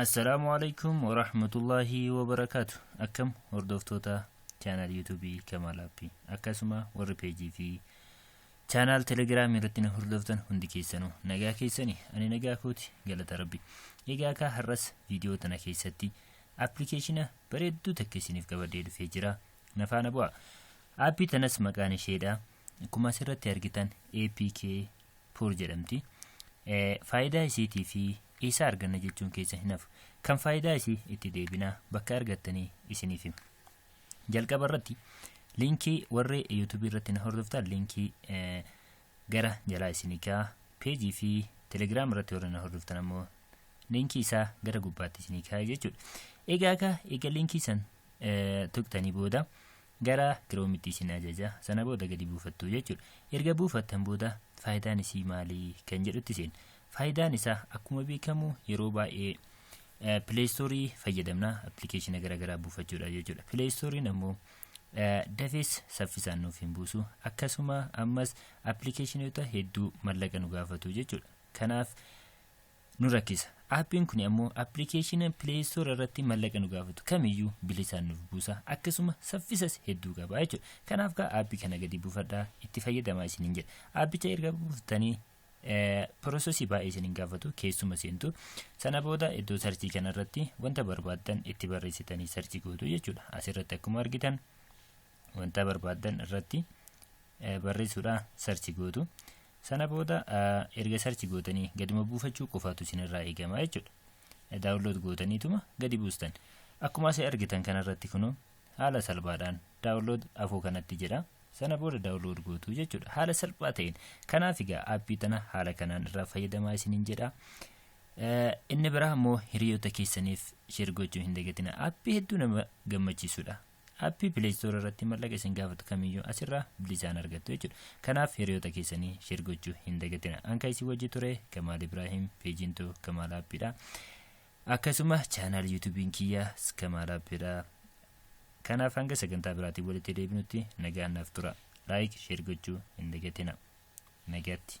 Assalaamu alaikum warahmatullahi wabarakaatu akkam hordoftoota chaanal yuutuubii Kamaal Appii akkasuma warri peejii fi Channel Telegram irratti na hordoftan hundi keessanuu nagaa keessani ani nagaa kooti galata rabbi. Egaa kaa har'as viidiyoo tana keessatti appilikeeshina bareedduu takka isiniif qabadhee dhufee jira. Na faana bu'a. Aappii tanas maqaan isheedha. Akkuma asirratti argitan APK Pur jedhamti. Faayidaa isiitii fi eessaa arganna jechuun keessa hin hafu. Kan faayidaa isii itti deebinaa bakka argattanii isiniif hima. Jalqaba irratti liinkii warri YouTube irratti na hordoftan liinkii gara jalaa isinii kaa'a. Peejii fi Telegram irratti warri na hordoftan ammoo liinkii isaa gara gubbaatti isinii kaa'a jechuudha. Egaa akka egaa liinkii san tuqtanii booda gara kiroomitti isin ajaja sana booda gadi buufattu jechuudha. Erga buufattan booda faayidaan isii maalii kan jedhutti isin Faayidaan isaa akkuma beekamu yeroo baay'ee pileestoorii fayyadamna appilikeeshina garaagaraa buufachuudhaaf jechuudha. Pileestooriin ammoo dafees saffisaan nuuf hin buusu akkasuma ammas appilikeeshinoota hedduu mallaqa nu gaafatu jechuudha. Kanaaf nu rakkisa. Aappiin kun ammoo appilikeeshina pileestoor irratti mallaqa nu gaafatu kamiyyuu bilisaan nuuf buusa akkasuma saffisas hedduu qaba jechuudha. Kanaaf kaa aappii kana gadi buufadhaa itti fayyadamaa isiniin jedha. Aappicha erga buufattanii Pirosesii baay'ee isin hin gaafatu keessuma seentu. Sana booda iddoo sarchii kanarratti wanta barbaaddan itti barreessitanii sarchii gootu jechuudha. Asirratti akkuma argitan wanta barbaaddan irratti barreessuudha sarchii gootu. Sana booda erga sarchii gootanii gaduma buufachuu qofaatu isinirraa eegama jechuudha. Daawunlood gootaniituma gadi buustan. Akkuma asii argitan kanarratti kunoo haala salphaadhaan daawunlood afoo kanatti jedha sana booda daawunlood gootu jechuudha haala salphaa ta'een kanaaf egaa aappii tana haala kanaan irraa fayyadamaa isiniin jedha inni biraa immoo hiriyoota keessaniif sheer gochuu hin dagatina aappii hedduu nama gammachiisudha aappii pileestoor irratti mallaqa isin gaafatu kamiyyuu asirraa bilisaan argattu jechuudha kanaaf hiriyoota keessanii sheer gochuu hin dagatina anka isin wajji ture kamaal ibraahim peejiintu kamaal aappiidha Akkasuma chaanaal yuutuubiin kiyya Skamaal Appidha. Kanaaf hanga sagantaa biraatiin walitti deebinutti nagaan naaf tura. Laayik, sheer gochuu hin dagatina. Nagaatti.